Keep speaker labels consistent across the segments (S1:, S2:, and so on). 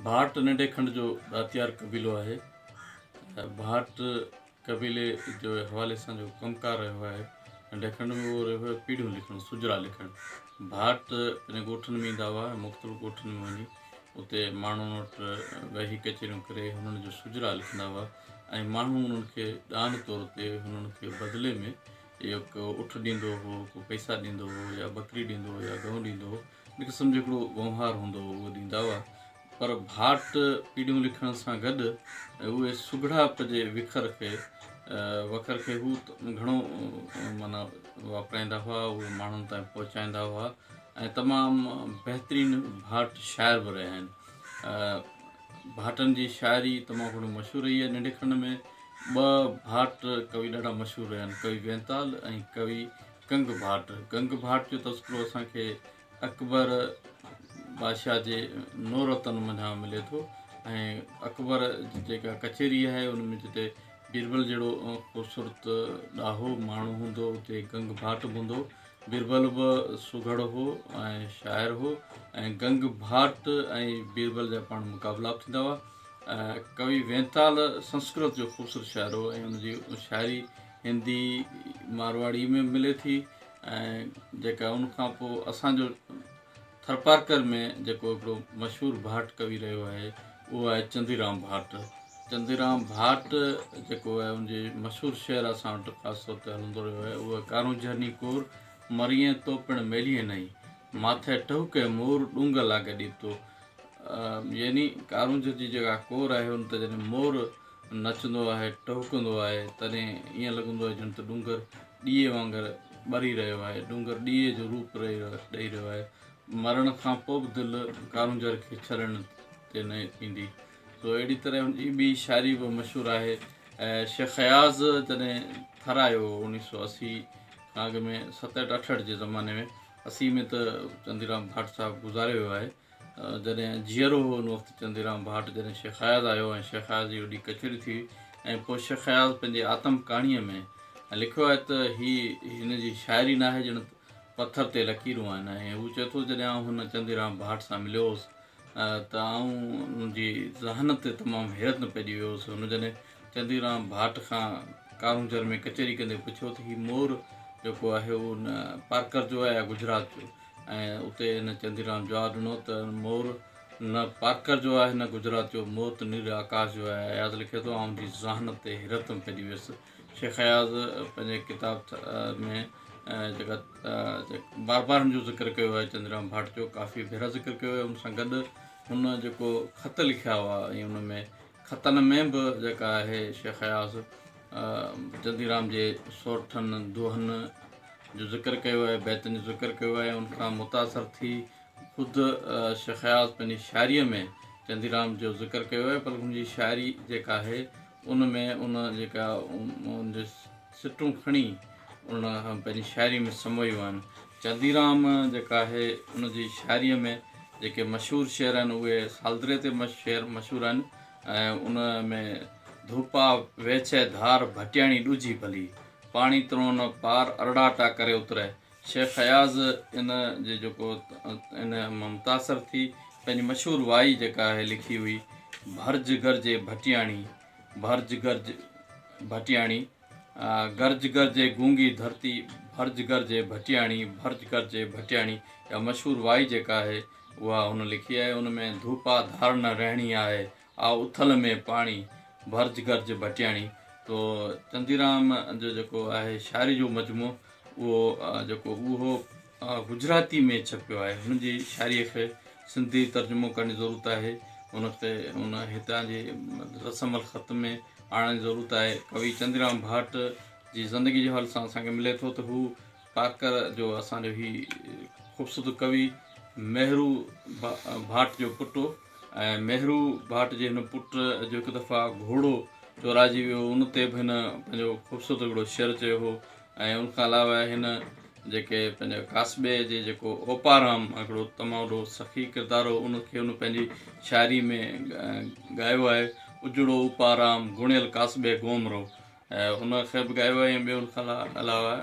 S1: ڀاٽ ننڍي کنڊ جو ڏاتيار قبيلو آهي. ڀاٽ قبيلي جو حوالي سان جو ڪم ڪار رهيو آهي ننڍي کنڊ ۾ اهو رهيو آهي پيڙهيون لکڻ، سجرا لکڻ. ڀاٽ پنهنجي ڳوٺن ۾ ايندا هئا ۽ مختلف ڳوٺن ۾ وڃي اتي ماڻهن وٽ ويهي ڪچهريون ڪري هنن جو سجرا لکندا هئا ۽ ماڻهو هنن کي ڏان طور تي هنن کي بدلي ۾ اهو ڪو اٺ ڏيندو هو، ڪو پئسا ڏيندو هو يا ٻڪري ڏيندو هو يا ڳئون ڏيندو هو. ان قسم جو هڪڙو وونهار هوندو هو اهو ڏيندا هئا پر ڀاٽ پيڙهيون لکڻ سان گڏ اهي سگهڙائپ جي وکر کي وکر کي هو گهڻو مانا واپرائيندا هئا اهي ماڻهن تائين پهچائيندا هئا ۽ تمام بهترين ڀاٽ شاعر به رهيا آهن ڀاٽن جي شاعري تمام گهڻو مشهور رهي آهي ننڊي کن ۾ ٻه ڀاٽ ڪوي ڏاڍا مشهور رهيا آهن ڪوي وينتال ۽ ڪوي گنگ ڀاٽ، گنگ ڀاٽ جو تذڪرو اسان کي اڪبر بادشاهه جي نورتن منجهان ملي ٿو ۽ اڪبر جي جيڪا ڪچهري آهي ان ۾ جتي بيربل جهڙو خوبصورت ڏاهو ماڻهو هوندو هو اتي گنگ ڀاٽ به هوندو هو بيربل به سگهڙ هو ۽ شاعر هو ۽ گنگ ڀاٽ ۽ بيربل جا پاڻ مقابلا به ٿيندا هئا ڪوي وينتال سنسڪرت جو خوبصورت شاعر هو ۽ ان جي شاعري هندي مارواڙي ۾ ملي ٿي ۽ جيڪا ان کان پوء اسان جو ٿرپارڪر ۾ جيڪو هڪڙو مشهور ڀاٽ ڪوي رهيو آهي اهو آهي چنديرام ڀاٽ چنديرام ڀاٽ جيڪو آهي ان جي مشهور شعر اسان وٽ خاص طور تي هلندو رهيو آهي اهو ڪارون جهرني ڪور مريئين تو پڻ ميليئين نئي ماٿي ٽهڪي مور ڏونگ لاڳ ڏيتو يعني ڪارونجهر جي جيڪا ڪور آهي ان تي جڏهن مور نچندو آهي، ٽهڪندو آهي، تڏهن ائين لڳندو آهي ڄڻ ته ڏونگر ڏيئي وانگر ٻري رهيو آهي، ڏونگر ڏيئي جو روپ ڏئي رهيو آهي. مرڻ کان پوء به دل ڪارونجهر کي ڇڏڻ تي نه ايندي. سو اهڙي طرح هن جي ٻي شاعري به مشهور آهي. شيخ اياز جڏهن ٿر آيو هو اوڻيهه سؤ اسي کان اڳ ۾ ستهٺ اٺهٺ جي زماني ۾، اسي ۾ ته چنديرام ڀاٽ صاحب گذاري ويو آهي، جڏهن جيئرو هو ان وقت چنديرام ڀاٽ جڏهن شيخ اياز آيو ۽ شيخ اياز جي وڏي ڪچهري ٿي ۽ پوء شيخ اياز پنهنجي آتم ڪهاڻيء ۾ لکيو آهي ته هي هن جي شاعري ناهي ڄڻ پٿر تي لڪيرون آهن ۽ هو چئي ٿو جڏهن آئون هن چنديرام ڀاٽ سان مليو هوس ته آئون ان جي ذهانت تي تمام حيرت ۾ پئجي ويو هوس هن جڏهن چنديرام ڀاٽ کان ڪارونجهر ۾ ڪچهري ڪندي پڇيو ته هي مور جيڪو آهي اهو پارڪر جو آهي يا گجرات جو ۽ اتي هن چنديرام جواب ڏنو ته مور نه پارڪر جو آهي نه گجرات جو، مور ته نيل آڪاش جو آهي. اياز لکي ٿو، آئون جي ذهانت تي حيرتم پئجي ويس. شيخ اياز پنهنجي ڪتاب تھ ۾ جيڪا بار بار هن جو ذڪر ڪيو آهي چنديرام ڀاٽ جو ڪافي ڀيرا ذڪر ڪيو آهي ان سان گڏ هن جيڪو خط لکيا هئا ۽ ان ۾ خطن ۾ به جيڪا آهي شيخ اياز چنديرام جي سورٺن دوهن جو ذڪر ڪيو آهي بيتن جو ذڪر ڪيو آهي ان کان متاثر ٿي خود شيخ اياز پنهنجي شاعريء ۾ چنديرام جو ذڪر ڪيو آهي پر ان جي شاعري جيڪا آهي ان ۾ ان جيڪا سٽون کڻي ان پنهنجي شاعري ۾ سمويون آهن چنديرام جيڪا آهي ان جي شاعري ۾ جيڪي مشهور شعر آهن اهي سالدري تي شعر مشهور آهن ۽ ان ۾ ڌوپا ويڇي ڌار ڀٽياڻي ڏجهي ڀلي پاڻي ترون پار ارڙاٽا ڪري اتري شيخ اياز ان جي جيڪو ان مان متاثر ٿي پنهنجي مشهور وائي جيڪا آهي لکي هئي ڀرج گرجي ڀٽياڻي ڀرج گرج ڀٽياڻي گرج گرجي گونگي ڌرتي ڀرج گرجي ڀٽياڻي ڀرج گرجي ڀٽياڻي اها مشهور وائي جيڪا آهي اها هن لکي آهي ان ۾ ڌوپا ڌار نه رهڻي آهي آء اٿل ۾ پاڻي ڀرج گرج ڀٽياڻي تو چنديرام جو جيڪو آهي شاعري جو مجموعو اهو جيڪو اهو گجراتي ۾ ڇپيو آهي. هن جي شاعريء کي سنڌي ترجمو ڪرڻ جي ضرورت آهي. ان کي ان هتان جي رسم الخط ۾ آڻڻ جي ضرورت آهي. ڪوي چندريام ڀاٽ جي زندگيء جي حوالي سان اسان کي ملي ٿو ته هو ڪاڪر جو اسان جو هي خوبصورت ڪوي مهرو ڀاٽ جو پٽ هو ۽ مهرو ڀاٽ جي هن پٽ جو هڪ دفعا گهوڙو چورائجي ويو هو. ان تي به هن پنهنجو خوبصورت هڪڙو شعر چيو هو. ۽ ان کان علاوه هن جيڪي پنهنجي ڪاسبي جي جيڪو اوپارام هڪڙو تمام وڏو سخي ڪردار هو ان کي هن پنهنجي شاعري ۾ ڳايو آهي اجڙو اوپارام گوڻيل ڪاسبي گوم رو ان کي به ڳايو آهي ۽ ٻيو ان کان علاوه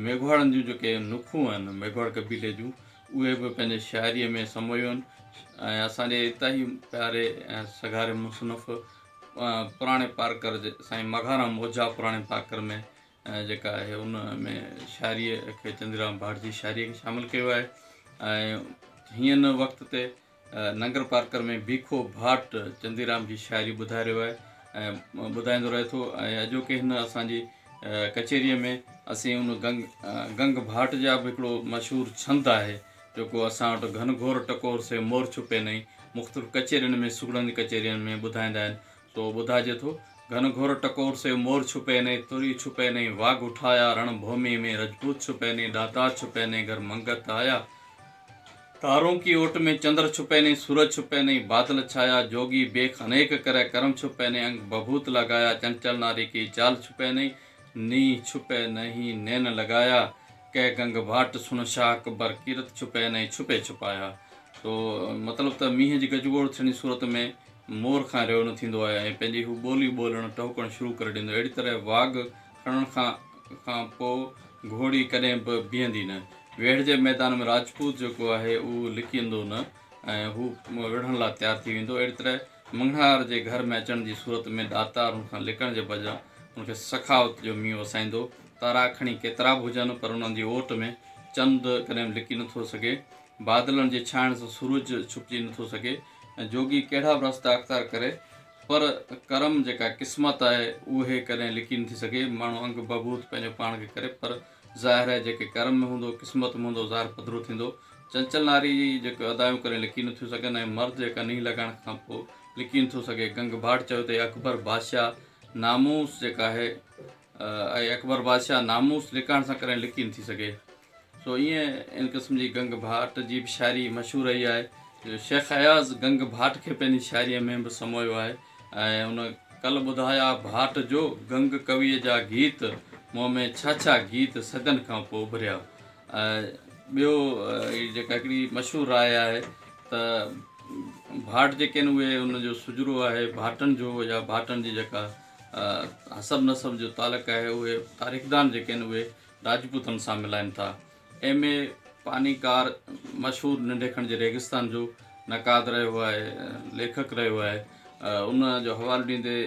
S1: ميگهواڙن جون جيڪي نکون آهن ميگهواڙ قبيلي جون اهي به پنهنجي شاعري ۾ سمويون آهن ۽ اسان جي اتان هي پياري ۽ سگهاري مصنف پراڻي پارڪر جي سائين مگهارام اوجها پراڻي پارڪر ۾ جيڪا آهي ان ۾ شاعريء کي چندريوان ڀاٽ جي شاعريء کي شامل ڪيو آهي ۽ هين وقت تي ننگر پارڪر ۾ ڀيکو ڀاٽ چنديرام جي شاعري ٻڌائي رهيو آهي ۽ ٻڌائيندو رهي ٿو ۽ اڄوڪي هن اسانجي ڪچهريء ۾ اسين ان گنگ گنگ ڀاٽ جا به هڪڙو مشهور ڇند آهي جيڪو اسان وٽ گهن گهور ٽڪور سي مور ڇپي نئي مختلف ڪچهرين ۾ سگهڙن جي ڪچهرين ۾ ٻڌائيندا آهن سو ٻڌائجي ٿو، گهن گهر ٽڪور سيو مور ڇپي نئي، تري ڇپي نئي، واڳ اٺايا، رڻ ڀوميء ۾ رجپوت ڇپي نئي، ڏاتار ڇپي نئي، گهر منگت آيا، تارون ڪي اوٽ ۾ چندر ڇپي نئي، سورج ڇپي نئي، بادل ڇايا، جوڳي بيخ انيڪ ڪري، ڪرم ڇپي نئي، انگ بڀوت لاڳايا، چنچل ناري ڪي چال ڇپي نئي، نينهن ڇپي نهي، نين لڳايا، ڪي گنگ ڀاٽ سڻ شاهه اڪبر، ڪيرت ڇپي نئي، ڇپي ڇپايا. سو مطلب ته مينهن جي گجگوڙ ٿيڻ جي صورت ۾. مور کان ريو نه ٿيندو آهي ۽ پنهنجي هو ٻولي ٻولڻ ٽهڪڻ شروع ڪري ڏيندو اهڙي طرح واڳ کڻڻ کان کان پوء گهوڙي ڪڏهن به بيهندي نه ويڙهه جي ميدان ۾ راجپوت جيڪو آهي اهو لڪيندو نه ۽ هو وڙهڻ لاء تيار ٿي ويندو اهڙي طرح مڱڻهار جي گهر ۾ اچڻ جي صورت ۾ ڏاتار هن کان لڪڻ جي بجاء هن کي سخاوت جو مينهن وسائيندو تارا کڻي ڪيترا به هجن پر انهن جي اوٽ ۾ چند ڪڏهن به لڪي نه ٿو سگهي بادلن جي ڇانئڻ سان سورج ڇپجي نٿو سگهي ۽ جوڳي ڪهڙا به رستا اختيار ڪري پر ڪرم جيڪا قسمت آهي اهي ڪڏهن لڪي نٿي سگهي. ماڻهو انگ بهبود پنهنجو پاڻ کي ڪري پر ظاهر آهي جيڪي ڪرم ۾ هوندو قسمت ۾ هوندو ظاهر پڌرو ٿيندو. چنچل ناري جي جيڪي ادائيون ڪڏهن لڪي نٿيون سگهن ۽ مرد جيڪا نينهن لڳائڻ کان پوء لڪي نٿو سگهي. گنگڀاٽ چيو ته اڪبر بادشاهه ناموس جيڪا آهي. اي اڪبر بادشاهه ناموس لڪائڻ سان ڪڏهن لڪي نٿي سگهي. سو ائين ان قسم جي گنگ ڀاٽ جي به شاعري مشهور رهي آهي. شيخ اياز گنگ ڀاٽ کي پنهنجي شاعريء ۾ به سمويو آهي ۽ ان ڪل ٻڌايا ڀاٽ جو گنگ ڪويء جا گيت مون ۾ ڇا ڇا گيت صدين کان پوء اڀريا. ٻيو جيڪا هڪڙي مشهور راء آهي ته ڀاٽ جيڪي آهن اهي ان جو سجرو آهي ڀاٽن جو يا ڀاٽن جي جيڪا حسب نسب جو تعلق آهي اهي تاريخدان جيڪي آهن اهي راجپوتن سان ملائن ٿا. ايم اي پاني ڪار مشهور ننڍي کڻ جي ريگستان جو نقاد رهيو آهي ليکڪ رهيو آهي ان جو حوالو ڏيندي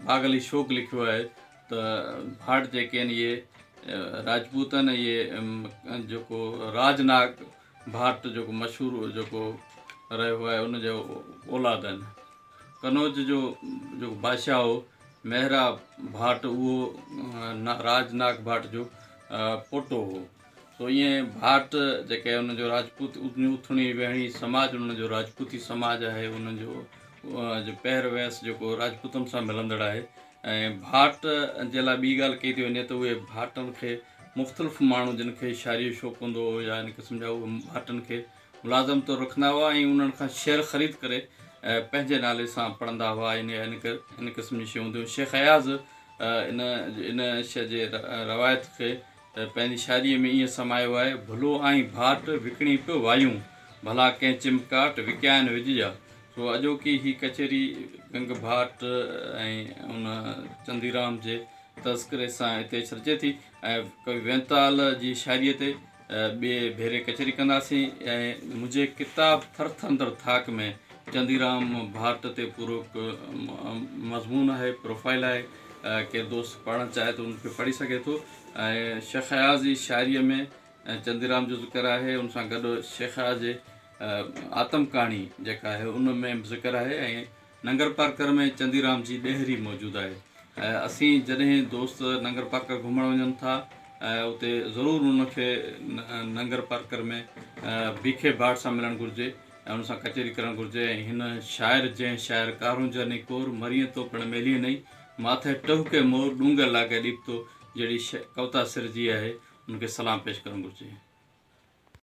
S1: باغ علي شوق لکيو آهي ته ڀاٽ جيڪي آهن اهي راجپوت آهن اهي جيڪو راج ناگ ڀاٽ جيڪو مشهور جيڪو رهيو آهي ان جا اولاد آهن قنوج جو جيڪو بادشاهه هو مهرا ڀاٽ اهو راج ناگ ڀاٽ جو پوٽو هو سو ائين ڀاٽ جيڪي ان جو راجپوت اٿڻي ويهڻي سماج ان جو راجپوتي سماج آهي ان جو جو پهر ويس جيڪو راجپوتن سان ملندڙ آهي ۽ ڀاٽ جي لاء ٻي ڳالهه ڪئي ٿي وڃي ته اهي ڀاٽن کي مختلف ماڻهو جن کي شاعريء جو شوق هوندو هو يا ان قسم جا اهي ڀاٽن کي ملازم طور رکندا هئا ۽ انهن کان شعر خريد ڪري پنهنجي نالي سان پڙهندا هئا يعني ان ان قسم جون شيون هونديون هيون شيخ اياز ان ان شيء جي روايت کي ته پنهنجي شاعريء ۾ ائين سمايو آهي، ڀلو آهين ڀاٽ، وڪڻي پيو وايون، ڀلا ڪنهن چمڪاٽ، وڪيائين وڄ جا. سو اڄوڪي هي ڪچهري گنگ ڀاٽ ۽ ان چنديرام جي تذڪري سان هتي ڇڏجي ٿي ۽ ڪوي وينتال جي شاعريء تي ٻئي ڀيري ڪچهري ڪنداسين ۽ منهنجي ڪتاب ٿرٿندڙ ٿاڪ ۾ چنديرام ڀاٽ تي پورو مضمون آهي، پروفائيل آهي. ڪير دوست پڙهڻ چاهي ته ان کي پڙهي سگهي ٿو ۽ شيخ اياز جي شاعريء ۾ چنديرام جو ذڪر آهي ان سان گڏ شيخ اياز جي آتم ڪهاڻي جيڪا آهي ان ۾ به ذڪر آهي ۽ ننگر پارڪر ۾ چنديرام جي ڏيهري موجود آهي اسين جڏهن دوست ننگر پارڪر گهمڻ وڃن ٿا اتي ضرور ان کي ننگر پارڪر ۾ بيکي ڀاٽ سان ملڻ گهرجي ۽ ان سان ڪچهري ڪرڻ گهرجي ۽ هن شاعر جنهن شاعر ڪارون جاني ڪور، مريئين تو پڻ ميليئين نئي، ماٿئي ٽهڪي مور، ڏونگر لاڳئي ڏيپتو جهڙي ش ڪوتا سرجي آهي، ان کي سلام پيش ڪرڻ گهرجي.